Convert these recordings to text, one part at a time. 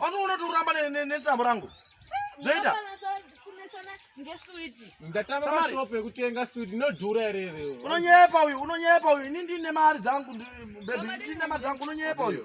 anoona kuti uramba nesambo rangu zvoita ndatavashop yekutenga swit inodhura here here unonyepa uyu unonyepa uyu ini ndine mari dzangu bebi ndine mari dzangu unonyepa uyu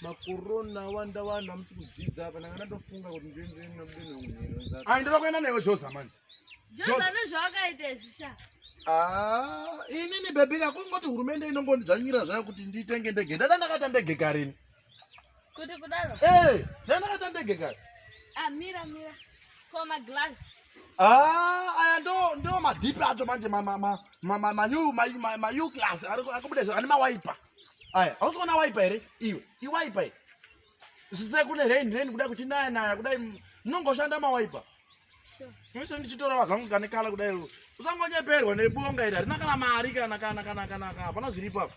makorona awanda vanhu hamusi kudzidza apa ndanga ndatofunga kuti ndoendere nabudeno unhero nzaka ai ndoda kuenda naiwe joza manje joza nezvawakaita izvi sha ah, inini bhebhi yako ngoti hurumende inongondidzvanyira zvayo kuti nditenge ndege ndada ndakaita ndege karini kuti kudaro ee eh, ndada ndakaita ndege kari ah, mira mira ko maglass ah, aya ndo ndo madhipi acho manje manew class arikubuda ane mawaipa aya hausiona waipa here iwe iwaipa i zvise kune rain rain kuda kuchinaya naya kudai munongoshanda mawaipa mise ndichitorawa zvangu kane kala kudai usangonyeperwa nebonga iri harina kana mari kana kana kana kana ka hapana zviripo apa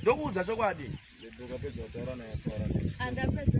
ndokuudza chokwadi ndokapedza kutaura naye taura andapedza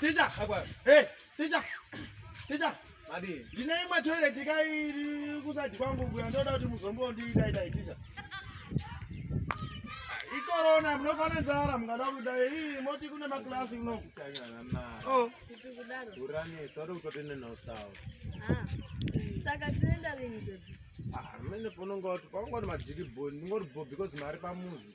Teacher. Hey, teacher. Teacher. Madi. Ndine imwe toilet kai kusadi kwangu kuya ndoda kuti muzombo ndiita ita teacher. Ikorona mnofana nzara mungada kuda hii moti kune ma class kuno. Kanyana mara. Oh. Kudaro. Urane toro kutotenda na usawa. Ah. Saka tuenda lini baby? Ah, mene pononga kuti pangoti madiki bo, ndingoti bo because mari pamuzi.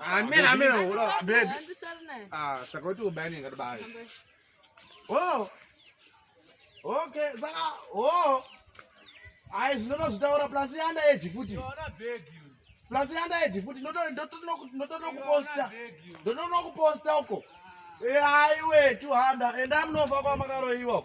Amena amena hura baby. Ah, saka uti ubani ngati bayi. Oh. Okay, saka oh. Ayi zvinova zvitaura plus yanda age futi. Yona baby. Plus yanda age futi ndoto ndoto ndoto kuposta. Ndoto kuposta uko. Eh ayi we 200 and I'm no fakwa makaroiwa.